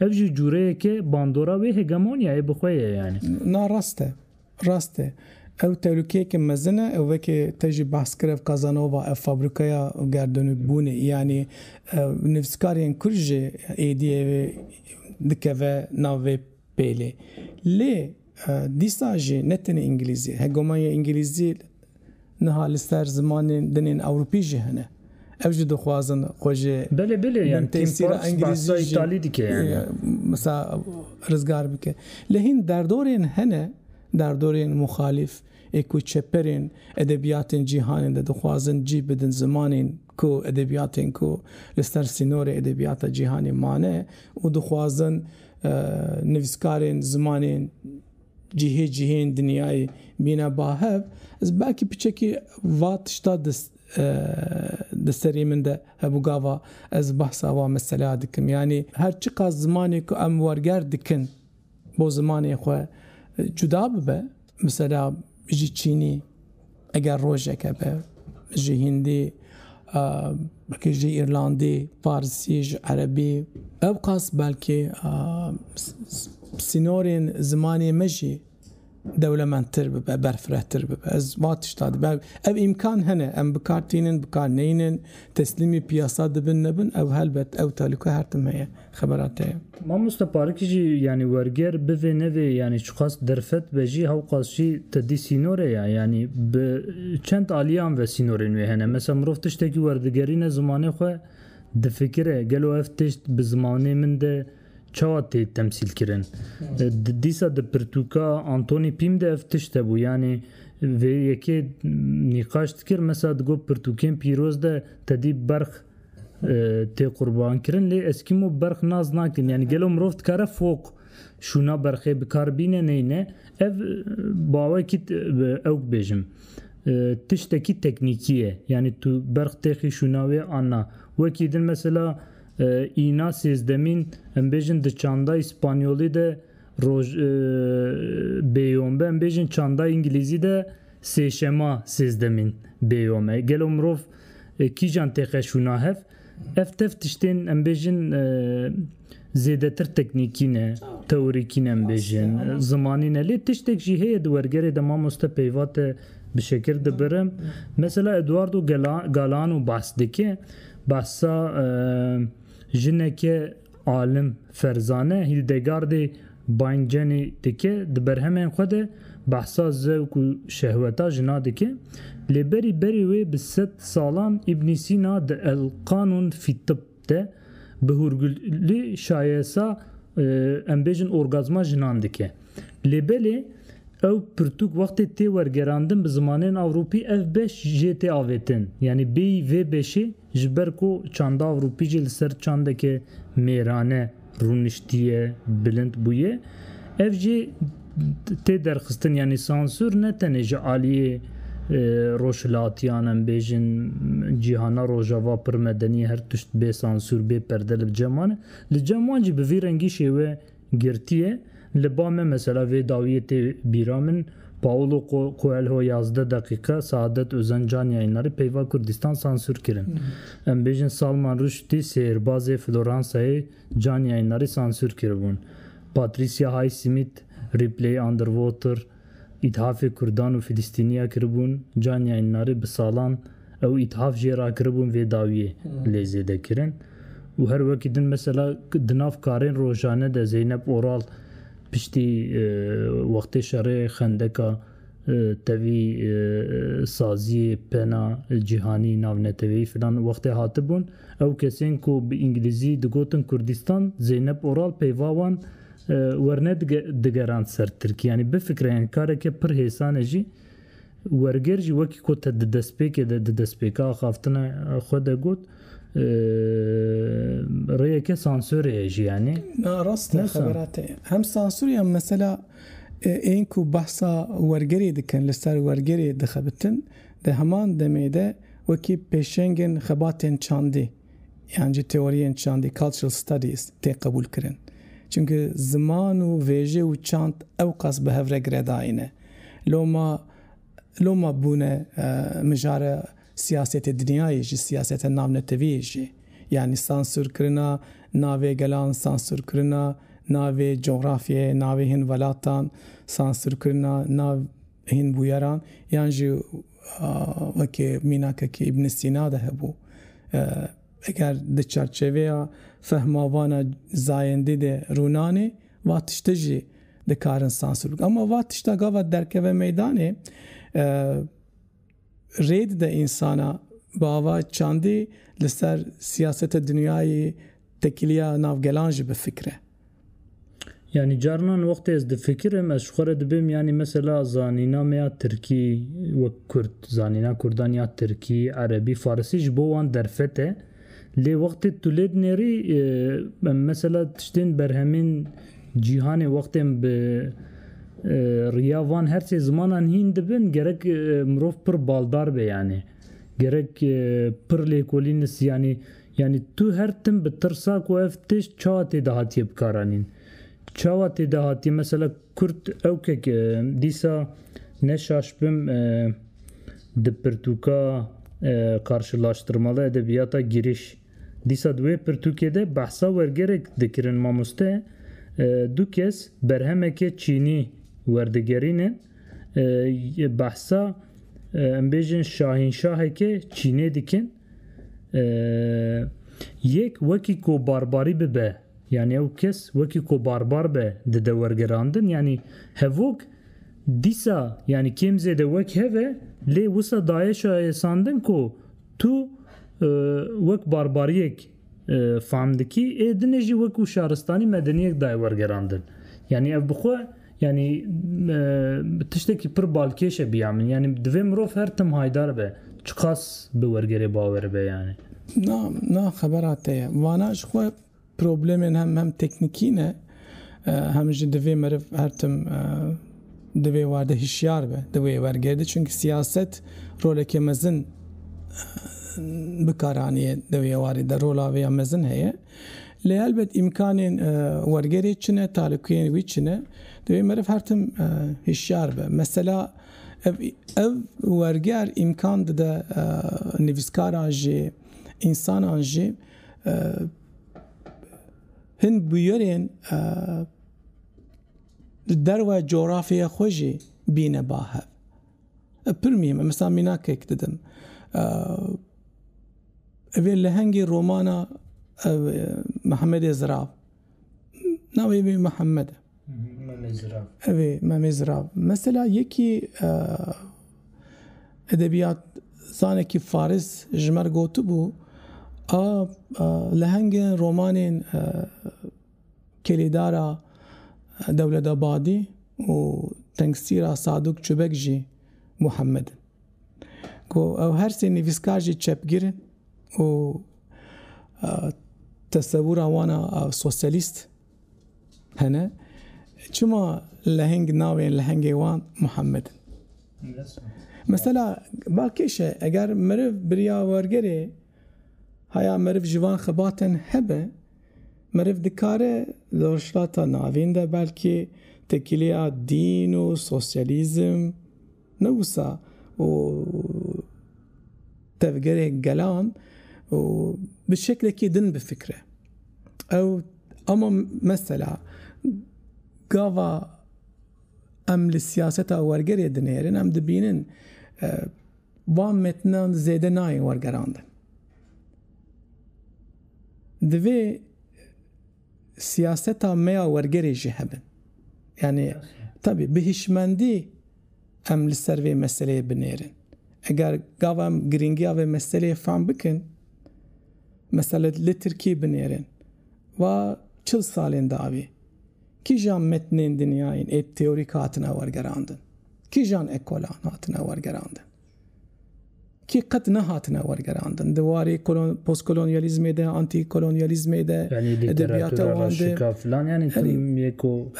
Ev jî cureyeke bandora wê hegemoniyayê bi xwe ye yanî. Na rast e. Rast e. Ew tehlukeyeke mezin e. Ew weke te jî behs kir ev Kazanova, ev fabrikaya gerdonûkbûnê yanî nivîskariyên kurd jî êdî ev ê dikeve nav vê pêlê. Lê. Dîsa jî ne tenê îngilîzî, hegemonya îngilîzî niha li ser zimanên din ên ewropî jî hene. Ew jî dixwazin xwe ji bin tesîra îngilîzî jî mesela rizgar bike. Lê hîn derdorên hene, derdorên muxalîf ê ku çeperên edebiyatên cîhanê de dixwazin cîh bidin zimanên ku edebiyatên ku li ser sînorê edebiyata cîhanê mane û dixwazin Nivîskarên zimanên cihê cihên dinyayê bîne bahev ez belkî piçekî va tişta di serê min de hebû gava ez behsa va meselaya dikim. Yanî her çiqas zimanê ku em werger dikin bo zimanê xwe cuda bibe, Misala ji Çînî eger rojeke be, ji Hindî, belkî ji Îrlandî, Farsî, ji Erebî, ewqas belkî sînorên zimanê me jî dewlemendtir bibe, berfirehtir bibe. Ez va tişta dibe, ev îmkan hene, em bi kar tînin, bi kar neynin, teslîmî piyasa dibin, nebin, ew helbet, ew tehlûke her tim heye. xebera te ye. Mamoste Parikî jî yanî werger bi vê nevê yanî çiqas derfet be jî hewqas jî te dî sînorê ye yanî bi çend aliyan ve sînorên wê hene. Mesela mirov tiştekî werdigerîne zimanê xwe difikire gelo ev tişt bi zimanê min de çawa tê temsîlkirin. Dîsa di pirtûka Anthony Pym de ev tişt hebû yanî vê yekê nîqaş dikir mesela digot pirtûkên pîroz de te dî berx Tê qurbankirin lê eskîmo berx nas nakin yanî gelo mirov dikare foq şûna berxê bi kar bîne neyne ev bawekî ew bêjim tiştekî teknîkî ye yanî tu berx têxî şûna wê an na wekî din mesela îna sêzdemîn em bêjin di çandayî spanyolî de Roj bêyombe em bêjin çanda îngilîzî de sêşema sêzdemîn bêyom e. Gelo mirov kîjan têqeşûna hev? Ev tev tiştên em bêjin zêdetir teknîkî ne, teorîkî ne em bêjin, zimanî ne. Lê tiştek jî heye di wergerê de mamoste peyva te bi şekir dibirim. Mesela Eduardo Galeano behs dike, behsa jineke Alim Ferzane Hildegardê Bayncenê dike, di berhemên xwe de behsa zevk û şehweta jina dike. Lê berî berê wê bi sed salan Îbnî Sîna di El Qanûn fî Tibb de bi hûrgulî şayesa em bêjin orgazma jinan dike. Lê belê ew pirtûk wextê tê wergerandin bi zimanên ewropî ev beş jê tê avêtin. Yanî bêyî vê beşê Ji ber ku çandav rûpî jî li ser çandeke mêrane rûniştiye, bilind bûye. Ev jî tê derxistin yanî sansûr ne tenê ji aliyê rojhilatiyan em bêjin cîhana rojava pir medenî her tişt bê sansûr bê perde li bi cem wan e. Li cem wan jî bi vî rengî şêwe Girtiye, Li ba me mesela vê dawiyê tê bîra min, Paolo Coelho yazdeh deqîqe, Saadet Ozen Can yayîndarî peyva Kurdistan sansûr kirin. Em bêjin Salman Rushdî sêrbazê Floransayê Can yayîndarî sansûr kiribûn. Patricia Highsmith, Ripley Underwater, Îthafê Kurdan û Filistîniya kiribûn, caniya înarê bi salan ew îthaf jê rakiribûn vê dawiyê lê zêdekirin û her wekî din mesela di nav karên rojane de Zeynep Oral piştî wextê şerê Xendeka tevî saziyê pena cîhanî navneteweyî filan wextê hatibûn ew kesên ku bi înglîzî digotin Kurdîstan Zeynep Oral peyva wan Werne digerand ser Tirkî yanî bifikre yan kareke pir hêsan e jî werger jî wekî ku te di destpêkê de di destpêka axaftina xwe de got rêyeke sansorê ye jî yanî. Na rast e xebera te hem sansorê hem mesela ên ku behsa wergerê dikin li ser wergerê dixebitin di heman demê de wekî pêşengên xebatên çandê. yan jî teoriyên çandî, cultural studies, tê qebûlkirin. Çimkî ziman û vêjê û çand ewqas bi hevre giredayî ne. Loma loma bûne mijara siyasetê dinyayê jî, siyaseta navnetewiyê jî. Yanî sansûrkirina navê gelan, sansûrkirina navê coxrafyeyê, navê hin welatan, sansûrkirina nav Hîn bûyeran yan jî wekî mînakekî Îbn Sîna de hebû. Eger di çarçeveya fehma vana zayendî de rûnanê va tiştê jî dikarin sansûr bikin. Ama va tişta gava derkeve meydanê, Rê dide însana bi ava çandî li ser siyaseta dinyayê, tekiliya nav gelan jî bifikire. Yanî carinan wextê ez difikirim ez ji xwe re dibim yanî mesela zanîna me ya tirkî wek kurd, zanîna kurdan ya tirkî, erebî, farisî ji bo wan derfet e. Lê wextê tu lê dinêrî mesela tiştên berhemên cîhanê wextên bi riya van her sê zimanan hîn dibin gerek mirov pir baldar be yanî gerek pir lêkolînis yanî yanî tu her tim bi tirsa ku ev tişt çawa tê de hatiye bikaranîn, çawa tê de hatiye mesela Kurd ewkek dîsa ne şaş bim di pirtûka Karşılaştırmalı edebiyata giriş. Dîsa di wê pirtûkê de behsa wergerek dikirin mamoste du kes berhemeke çînî werdigerîne behsa em bêjin şahînşaheke çînê dikin. Yek wekî ku barbarî bibe yanî ew kes wekî ku barbar be dide wergerandin yanî hevok dîsa yanî kêm zêde wek hev e lê wisa daye şayesandin ku tu wek barbariyek Famdikî ê dinê jî wekû şaristanî medeniyek dayê wergerandin. Yanî ev bi xwe yanî tiştekî pir balkêş e biya min. Yanî divê mirov her tim haydar be. Çiqas bi wergerê bawer be yanî. Na, na xebera te ye. Vana ji xwe problemên hem hem teknîkî ne, hem jî divê meriv her tim Di vê war de hişyar be di wê wergê de çimkî siyaset roleke mezin bikar anîye di wê warê de rola wê ya mezin heye. Lê helbet îmkanên wergerê çi ne talûkeyên wî çi ne di wê meriv her tim hişyar be. Mesela ev ev werger îmkan dide nivîskaran jî însanan jî hin bûyerên Di derwe coğrafyaya xwe jî bîne ba hev. Ev pir mîhim e. Misa mînakek didim. Evê lehengê romana Mehemedê Zirav. Navê wê Mehemed e. Memê Zirav. Evê Memê Zirav. Mesela yekî edebiyat zanekî faris ji me re gotibû a lehengên romanên Kelêdara Dewletebadî û tengsîra Sadûk Çubek jî Muhammed in. Ku ew her sê nivîskar jî çepgir in û tesewûra wan a sosyalîst hene, çima leheng navên lehengê wan Muhammed in? Mesela ba kêş e, eger meriv biriya wergerê heya meriv ji van xebatên hebe, Meriv dikare li Rojhilata Navîn de belkî tekîlêya dîn û sosyalîzm ne wisa û tevgerê gelan û bi şeklekî din bifikre. Ew ama mesela gava em li siyaseta wergerê dinêrin em dibînin van metinan zêde nayên wergerandin. Divê siyaseta me ya wergerê jî hebe. Yanî tevî bi hişmendî em li ser vê meseleyê binêrin. Eger gava em girîngiya vê meseleyê fehm bikin, mesela li Tirkiyê binêrin va çil salên dawî kîjan metnên dinyayên êpteorîk hatine wergerandin, kîjan ekolan hatine wergerandin. Kî qet nehatine wergerandin di warê postkolonyalîzmê de, antîkolonyalîzmê de, edebiyata wan de.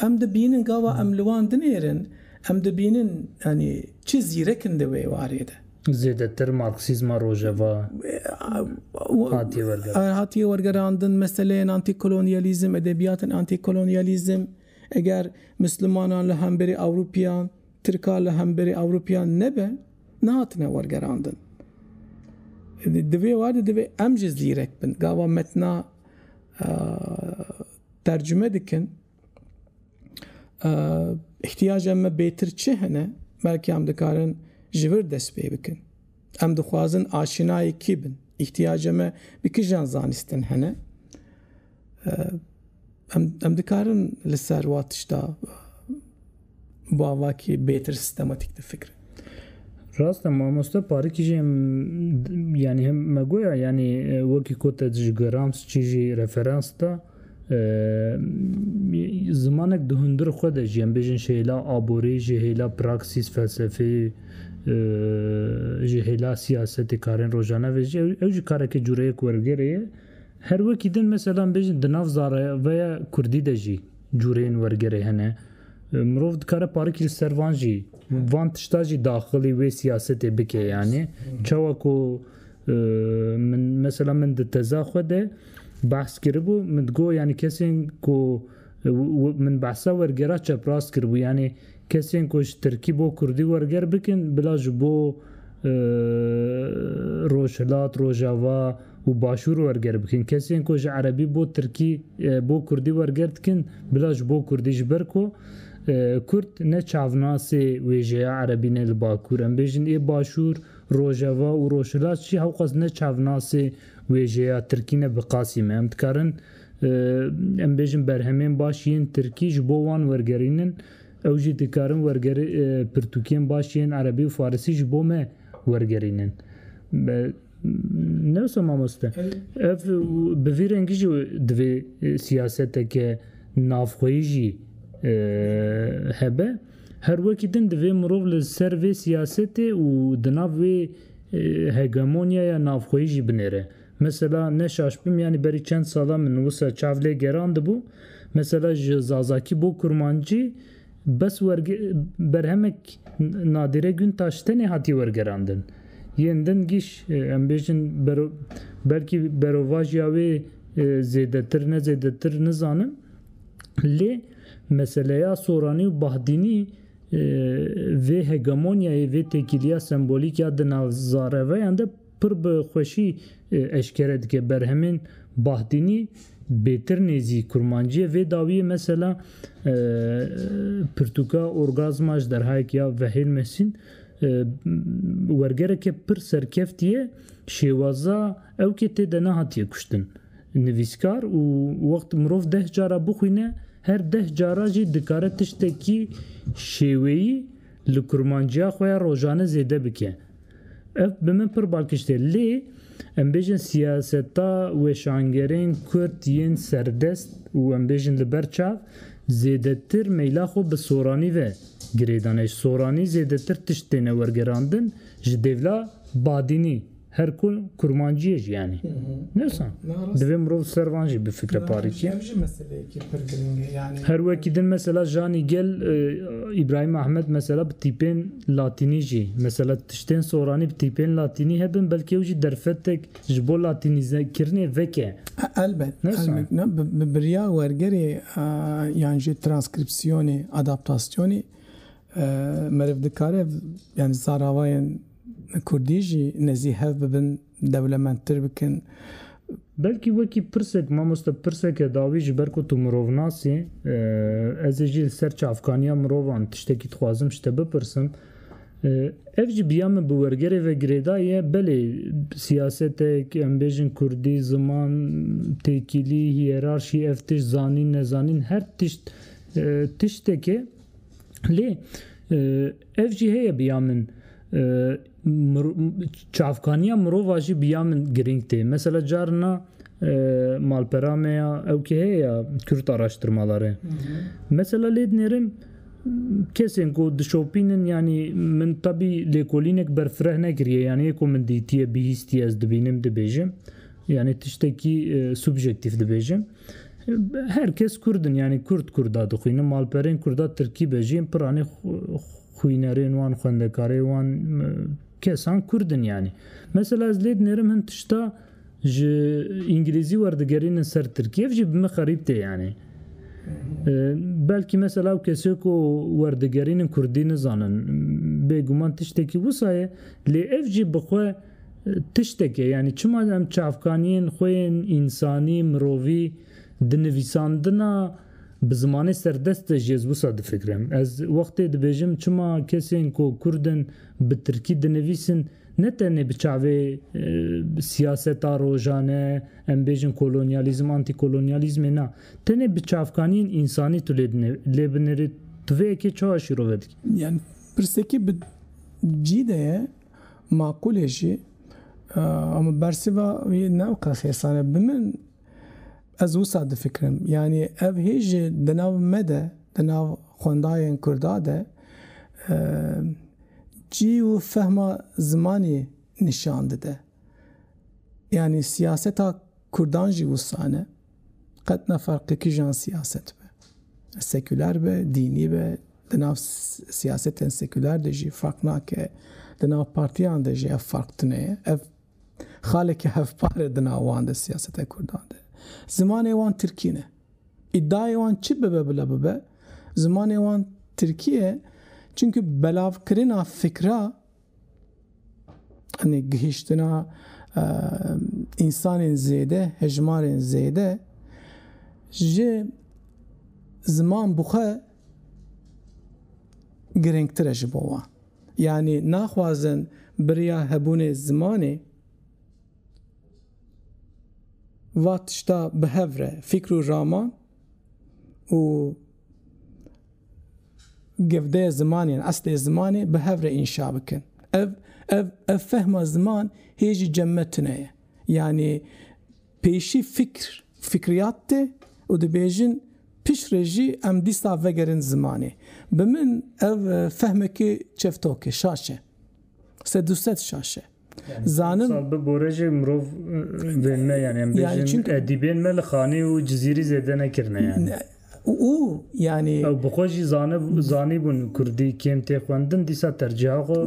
Em dibînin gava em li wan dinêrin, em dibînin yanî çi zîrek in di wê warê de. Zêdetir marksîzma rojeva hatiye wergerandin. Hatiye wergerandin meseleyên antîkolonyalîzm, edebiyatên antîkolonyalîzm eger mislimanan li hemberî Ewropiyan, Tirkan li hemberî Ewropiyan nebe nehatine wergerandin. Di vê war de divê em jî zîrek bin. Gava metna tercume dikin îhtiyaca me bêtir çi hene belkî em dikarin ji vir dest pê bikin. Em dixwazin aşinayê kî bin. Îhtiyaca me bi kijan zanîstin hene. Em dikarin li ser wa tişta bi avakî bêtir sîstematîk difikirin. Rast e mamoste parikî jî yanî hem me goya yanî wekî ku te ji Grams çî jî referans da zimanek di hundir xwe de jî em bêjin ji hêla aborî, ji hêla praksîs felsefî, ji hêla siyasetê karên rojane ve jî ew jî kareke cûreyek wergêrê ye. Her wekî din mesela em bêjin di nav zareveya kurdî de jî cûreyên wergerê hene. Mirov dikare parikî li ser van jî van tişta jî daxilî wê siyasetê bike yanî çawa ku min mesela min di teza xwe de behs kiribû min digot yanî kesên ku Min behsa wergera çeprast kiribû yanî kesên ku ji tirkî bo kurdî werger bikin bila ji bo rojhilat, rojava û başûr werger bikin. Kesên ku ji erebî bo tirkî bo kurdî werger dikin bila ji bo kurdî ji ber ku kurd ne çavnasê wêjeya erebî ne li bakûr em bêjin ê başûr, rojava û rojhilat jî hewqas ne çavnasê wêjeya tirkî ne bi qasî me. Em dikarin em bêjin berhemên baş yên tirkî ji bo wan wergerînin ew jî dikarin wergerî pirtûkên baş yên erebî û farisî ji bo me wergerînin. Ne wisa mamoste. Ev bi vî rengî jî divê siyaseteke navxweyî jî hebe. Her wekî din divê mirov li ser vê siyasetê û di nav wê hegemonyaya navxweyî jî binêre. Mesela ne şaş bim yanî berî çend sala min wisa çav lê gerandibû, mesela ji zazakî bo kurmancî bes werge berhemek Nadîre Guntaş tenê hatiye wergerandin. Yên din giş em bêjin bero belkî berovajiya wê zêdetir ne zêdetir nizanim lê meseleya soranî û bahdînî vê hegemonyayê vê têkiliya sembolîk ya di nav zarevayan de Pir bi xweşî eşkere dike berhemên Bahdînî bêtir nêzî kurmancîye vê dawîyê mesela pirtûka orgazma ji derhayek ya Vehêl Mehsîn wergereke pir serkeft ye şêwaza ew kê tê de nehatiye kuştin nivîskar û wext mirov deh cara bixwîne her deh cara jî dikare tiştekî şêweyî li kurmanciya xwe ya rojane zêde bike. Ev bi min pir bal kişt e. Lê em bêjin siyaseta weşangerên Kurd yên serdest û em bêjin li ber çav zêdetir meyla xwe bi soranî ve girê dane. Ji soranî zêdetir tişt têne wergerandin ji dêvla badînî her ku kurmanciyê jî yanî. Ne wisa? Divê mirov ser van jî bifikre parîtî. Ev jî meseleyekî pir giring e. Her wekî din mesela Janî Gel, Îbrahîm Ahmed mesela bi tîpên, Latînî jî, mesela tiştên soranî bi tîpên latînî hebin, belkî ew jî derfetek ji bo latînîzekirinê veke. Elbet, elbet. Na, bi birya wergerê yan jî transkrîpsiyonê, adaptasyonê meriv dikare yani zaravayên kurdî jî nezî hev bibin. dewlemendtir bikin. Belkî wekî pirsek mamoste pirseke dawî ji ber ku tu mirovnas î, ez ê jî li ser çavkaniya mirovan tiştekî dixwazim ji te bipirsim. Ev jî biya min bi wergerê ve girêdayî ye, belê siyasetek, em bêjin kurdî, ziman, têkilî, hîyerarşî, ev tişt, zanîn, nezanîn her tişt tiştekê lê ev jî heye biya min, çavkaniya mirova jî bi ya min girîng tê. Mesela carina malpera me ya ew kê heye ya Kürt araştırmaları. Mesela lê dinêrim kesên ku dişopînin yanî min tebî lêkolînek berfireh nekiriye yanî yê ku min dîtiye bihîstiye ez dibînim dibêjim yanî tiştekî subjektîf dibêjim. Her kes Kurdin yanî Kurd Kurda dixwînin malperên Kurda Tirkî be jî piranî Xwînerên wan, xwendekarê wan kesan Kurd in yanî. Mesela ez lê dinêrim hin tişta ji Îngilîzî werdigerînin ser Tirkî. Ev jî bi min xerîb tê yanî. Belkî mesela ew kesê ku werdigerînin Kurdî nizanin. Bêguman tiştekî wisa ye. Lê ev jî bi xwe tiştek e. Yanî çima em çavkaniyên xwe yên însanî, mirovî di nivîsandina Bi zimanê serdest de jî ez wisa difikirim. Ez wextê dibêjim çima kesên ku kurd in bi tirkî dinivîsin ne tenê bi çavê siyaseta rojane em bêjin kolonyalîzm, antîkolonyalîzmê na, tenê bi çavkaniyên însanî tu lê dinê lê binirî tu vê yekê çawa şîrove dikî? Yan pirsekî bi cî de ye, maqûl e jî. Ama bersîva wî ne weke xêsan e. Bi min Ez wisa difikirim, yanî ev hêj jî di nav me de, di nav xwendayên Kurda de cî û fehma zimanî nîşan dide. Yanî siyaseta Kurdan jî wisa ne. Qet ne ferqê kîjan siyaset be. Sekûler be, dînî be, di nav siyasetên sekûler de jî ferq nake, di nav partiyan de jî ev ferq tune ye. Ev Xaleke hevpar e di nav wan de siyaseta Kurdan de. Zimanê wan Tirkî ne. Îdayê wan çi bibe bila bibe, zimanê wan Tirkî ye çimkî belavkirina fikra anî gihîştina însanên zêde, hejmarên zêde ji ziman bi xwe girîngtir e ji bo wan. Yanî naxwazin biriya hebûnê zimanê va tişta bi hev re fîkr û raman û gevdeyê zimanê yên eslê zimanê bi hev re înşa bikin. Ev ev ev fehma ziman hê jî cem me tune ye. Yanî Pêşî fikr, fikriyat tê û dibêjin piştre jî em dîsta vegerin zimanê. Bi min ev fehmekî çevtok e, şaş e. Sed û sed şaş e. Zanim. Sal bi bore jî mirov vênime yani em bêjin edîbên me li xanî û cizîrî zêde nekirine yani. û yanî. Ew bi xwe jî zanib zanîbûn kurdî kêm tê xwendin dîsa tercîha xwe.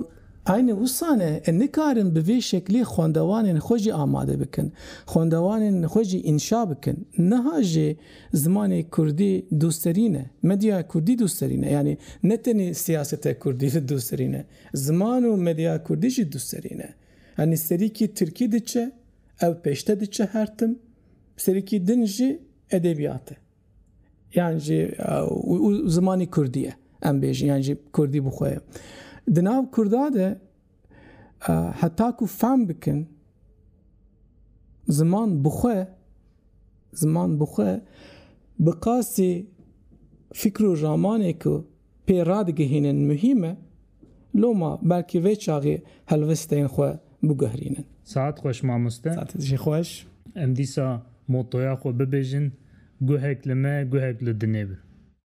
Aynî wisa ne e nikarin bi vê şeklî xwendewanên xwe jî amade bikin, xwendewanên xwe jî înşa bikin. Niha jî zimanê kurdî dûserî ne, medyaya kurdî dûserî ne. Yanî ne tenê siyasete kurdî dûserî ne, ziman û medyaya kurdî jî dûserî ne. Yanî serîkî tirkî diçe, ew pêşte diçe her tim. Bi serîkî din jî edebiyat e. Yan jî û zimanî kurdî ye em bêjin yan jî kurdî bi xwe ye. Di nav kurda de heta ku fehm bikin ziman bi xwe ziman bi xwe bi qasî fikr û ramanê ku pê radigihînin muhîm e, loma belkî vê çaxê helwistên xwe biguherînin. Saet xweş mamoste. Saetê jî xweş. Em dîsa motoya xwe bibêjin, Guhek li me, guhek li dinê bi.